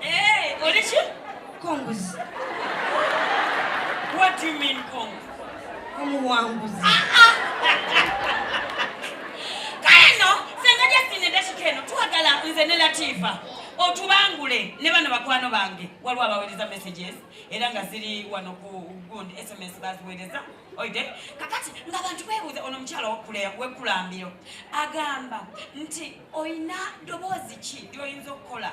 Eh, oli ki? Konguzi. What do you mean kongu? Omuwanguzi. Ah, ah. Kale no, senga Justin edakika eno twagala nze ne Latifa otubangule ne bano bakwano bange waliwo abaweereza messages era nga ziri wano ku gundi sms baziweereza oide kakati nga bantu beebuuza ono omukyala wekulambiro agamba nti olina ddoboozi ki lyoyinza okukola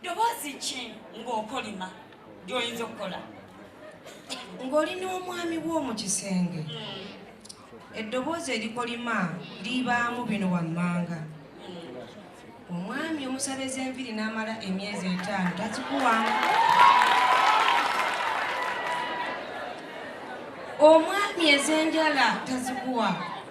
ddoboozi ki ng'okolima ly'oyinza okukola ng'oli n'omwami wo mu kisenge hmm. eddoboozi erikolima libaamu bino wammanga hmm. omwami omusala ez'enviri n'amala emyezi etaano takikuwamu omwami ez'enjala tazikuwa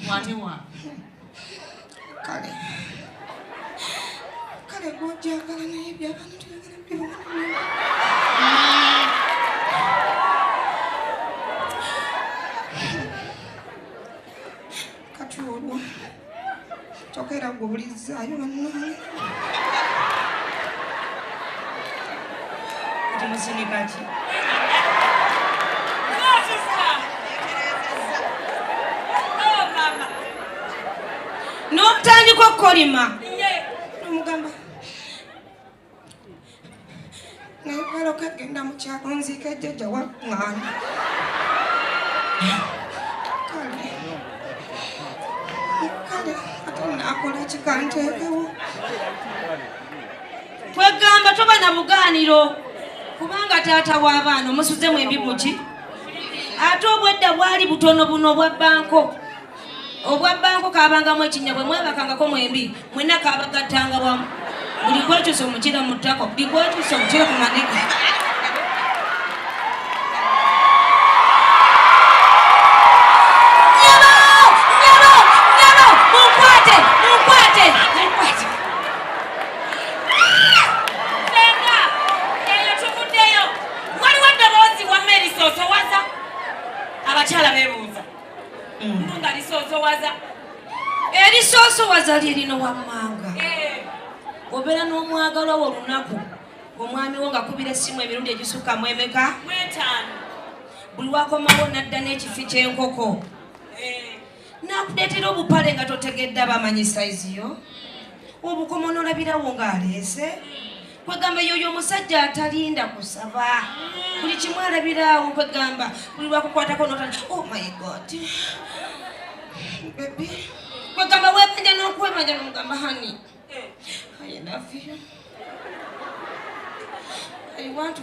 Mkwate wa. Kale. Kale gwojagala naye byabana tuyagala byabana. Kati olwo. Kyoka era gwe obulizzaayo bannange. Kati musinika ki? N'otandika okukolima. naye wala okagenda mu kyalo nziika jjajja wa mwana kale kale ate naakola kikanteekewo kwegamba toba na bugaaniro kubanga taata w'abaana omusuzemu embi muki ate obwedda bwali butono buno obwa banko obwabbango kabangamu ekinnya bwe mwebakangako mwembi mwena kabagattanga wamu buli kwekyusa omukira mu ttako buli kwekyusa omukira ku manege nga lisoosowaza erisoosowaza lye lino wammanga eh. obeera n'omwagalwa wo olunaku omwami wo ngakubira essimu emirundi egisukka mu emeka buli wakomawo nadda n'ekifi ky'enkoko eh. nakuleetera obupale nga totegedde abamanyi sayizi yo obukoma onolabirawo ng'aleese kwegamba yoyo omusajja atalinda kusaba buli kimu alabiraawo kwegamba buli lwakukwatako notana oh my god bebi kwegamba webanja nokwebanja nomugamba hani eh. i love you i want to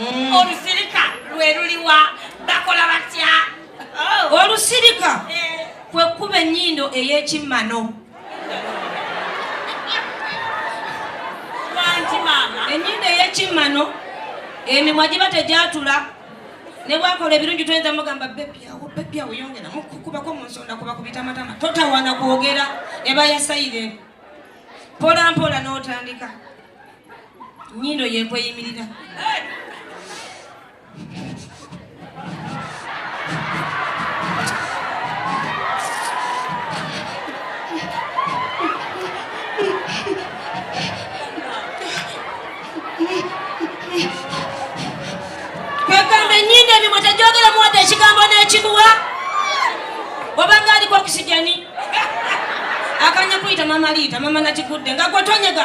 mm. olusirika lwe luliwa bakola batya oh. olusirika eh. kwe kuba ennyindo ey'ekimmano ennyindo ey'ekimmano emimwa giba tegyatula ne bwakola ebirungi toyinza mugamba bebyawo bebyawo yongera mukukubako mu nsonda kuba ku bitamatama totawana kwogera eba yasayire mpolampola n'otandika nyindo yekweyimirira kwegamba enyindo emimwe tegyogeramu wadde ekigambo n'ekibuwa obanga aliko okisijani akanya kuyita mama liita mama nakigudde nga gwetonyega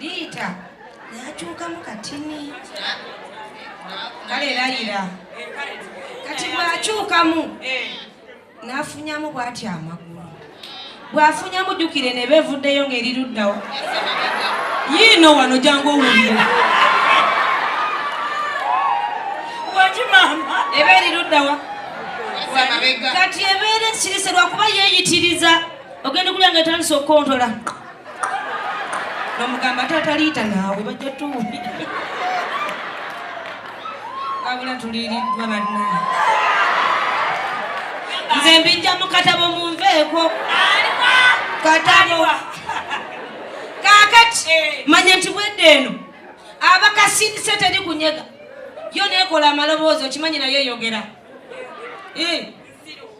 Liita yakyukamu katini kale layira kati bwakyukamu eh. nafunyamu bwati amagulu bwafunyamu jukire nebevuddeyo ngaeri luddawo yiino wano jangu owulire eba eri luddawa kati ebeera ekirisa lwakuba yeyitiriza ogenda kulya nga etandisa okukontola nomugamba taata liita naawe bajja tuwuli wabula tuliiriddwa banna nze mbijja mu katabo munveeko katabo kakati manya nti bwedde eno abakasindise teri kunyega yo nekola amaloboozi okimanyi nayo eyogera eh.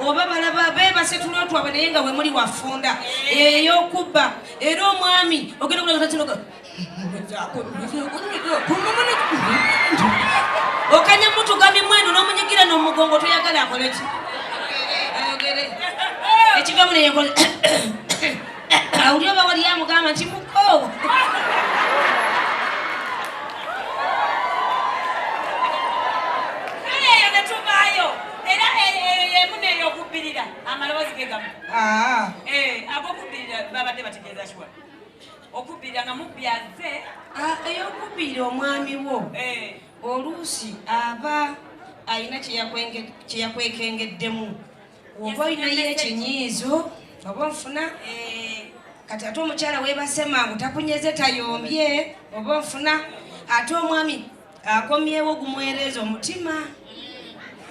oba balaba bebase tulo twabwe naye nga wemuli wafunda eyokubba era omwami ogenda kulagatinoga okanya mutugami mwenu nomunyigira nomugongo toyagala akoleki ayogere ekigamu neyekola awuli oba wali amugamba nti muko era eyo yemu neyokubbirira amaloboozi ge gamu ah. eh, agokubbirira babadde bategeeza kiwa okubbirira nga mubyaze ah, eyokubbirira omwami wo eh. oluusi aba alina kyeyakwekengeddemu oba olinayo ekinyiizo oba ofuna eh. kati ate omukyala webase mangu takunyeze tayombye oba ofuna ate omwami akomyewo gumwereeza omutima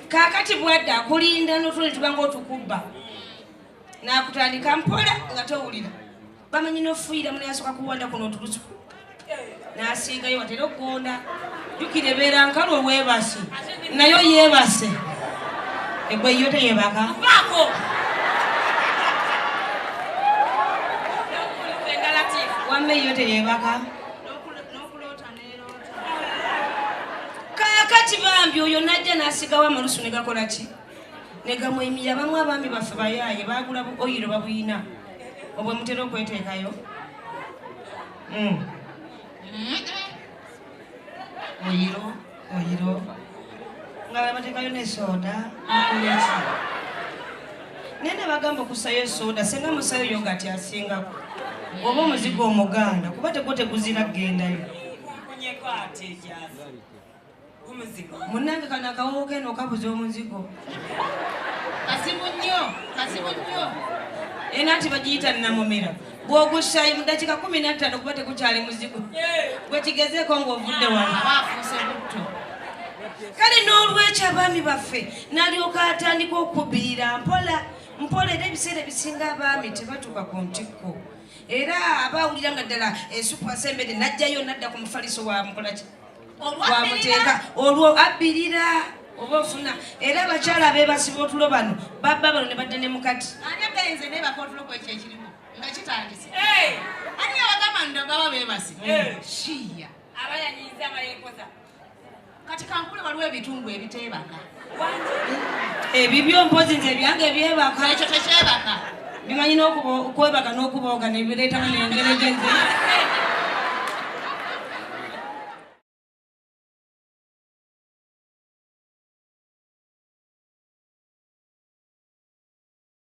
kakati bwadde akulinda notuli tubanga otukubba nakutandika mpola nga towulira bamanyi nofuuyira mune asoka kuwanda kuno otulusu nasiingayo watera okugonda jukira ebeera nkalu owebasi nayo yebase egwe yo teyebaka wamma eyo teyebaka kakati bambi oyo najja nasigawo amalusu negakola ki negamwemira bamu abaami baffe bayaaye bagula bu oyiro babuyina obwe mutera okweteekayo hmm. oyiro oyiro nga babatekayo ne soda nakuleki naye ne bagamba okusayo esoda senga musayo yo ngati asingako oba omuzigo omuganda kuba tegwo teguzira kugendayo munange kano akawowo keno okabuza omuzigo kazibu nnyo kazibu nnyo ena nti bagiyita namumira bwogusayi mudakika kumi nattano kuba tegukyali muzigo gwekigezeko ngaovudde wanaafusebutto kale n'olwekyo abaami baffe nalyoka atandika okubirira mpola mpola era ebiseera ebisinga abaami tebatuuka ku ntikko era aba awulira nga ddala esupu asembedde najjayo nadda ku mufaliso wa mukolaki wamuteeka olwo abbirira oba ofuna era abakyala bebasiba otulo bano babba bano ne badda ne mukati kati kankule waliwo ebitundu ebiteebaka ebibyo mpozi nze ebyange ebyebaka ekyo tekyebaka bimanyi nokwebaka nokubooga nebireeta nengere genze